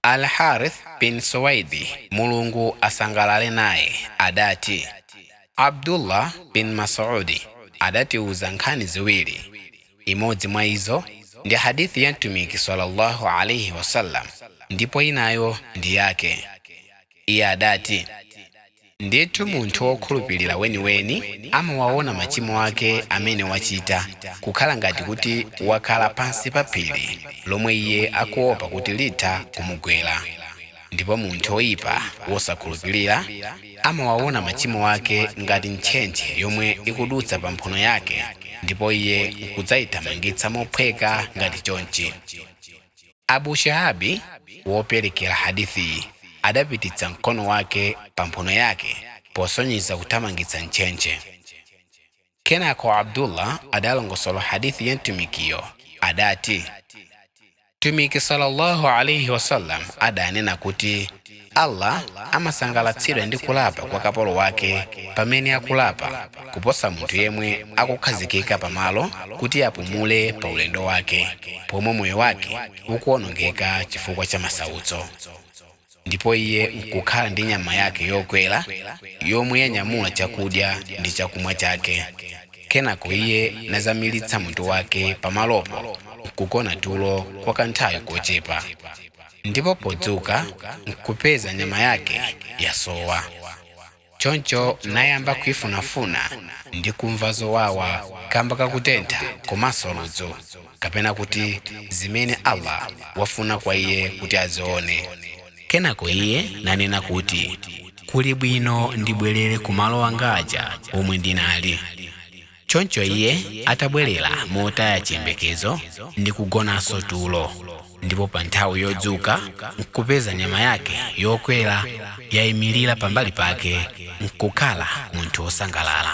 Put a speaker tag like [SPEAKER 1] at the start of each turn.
[SPEAKER 1] Al-Harith bin Suwaidi, Mulungu asangalale naye, adati, Abdullah bin Mas'udi adatiuza nkhani ziwiri. Imodzi mwa izo ndi hadith ya Mtumiki sallallâhu alaihi wa sallam ndipo inayo ndi yake. Iye adati, Ndithu munthu wokhulupirira weniweni amawaona machimo ake amene wachita kukhala ngati kuti wakhala pansi pa phiri lomwe iye akuopa kuti litha kumugwera. Ndipo munthu woipa wosakhulupirira amawaona machimo ake ngati ntchentche yomwe ikudutsa pa mphuno yake ndipo iye nkudzaithamangitsa mophweka ngati chonchi. Abu Shihabi, woperekera hadithiyi, adapititsa mkono wake pa mphuno yake posonyeza kuthamangitsa ntchentche. Kenako Abdullah adalongosola hadith ya Mtumikiyo, adati, Mtumiki sallallâhu alaihi wa sallam adanena kuti, Allah amasangalatsidwa ndi kulapa kwa kapolo wake pamene akulapa kuposa munthu yemwe akukhazikika pamalo kuti apumule pa ulendo wake pomwe moyo wake ukuwonongeka chifukwa cha masautso ndipo iye nkukhala ndi nyama yake yokwera yomwe yanyamula chakudya ndi chakumwa chake kenako iye nazamiritsa mutu wake pamalopo nkugona tulo kwa kanthawi kochepa ndipo podzuka nkupeza nyama yake yasowa choncho nayamba kuifunafuna ndi kumva zowawa kamba kakutentha komanso ludzu kapena kuti zimene allah wafuna kwa iye kuti azione kenako iye nanena kuti kuli bwino ndibwerere kumalo anga aja omwe ndinali choncho iye atabwerera motaya chiyembekezo ndi kugonanso tulo ndipo pa nthawi yodzuka nkupeza nyama yake yokwera yayimirira pambali pake nkukhala munthu wosangalala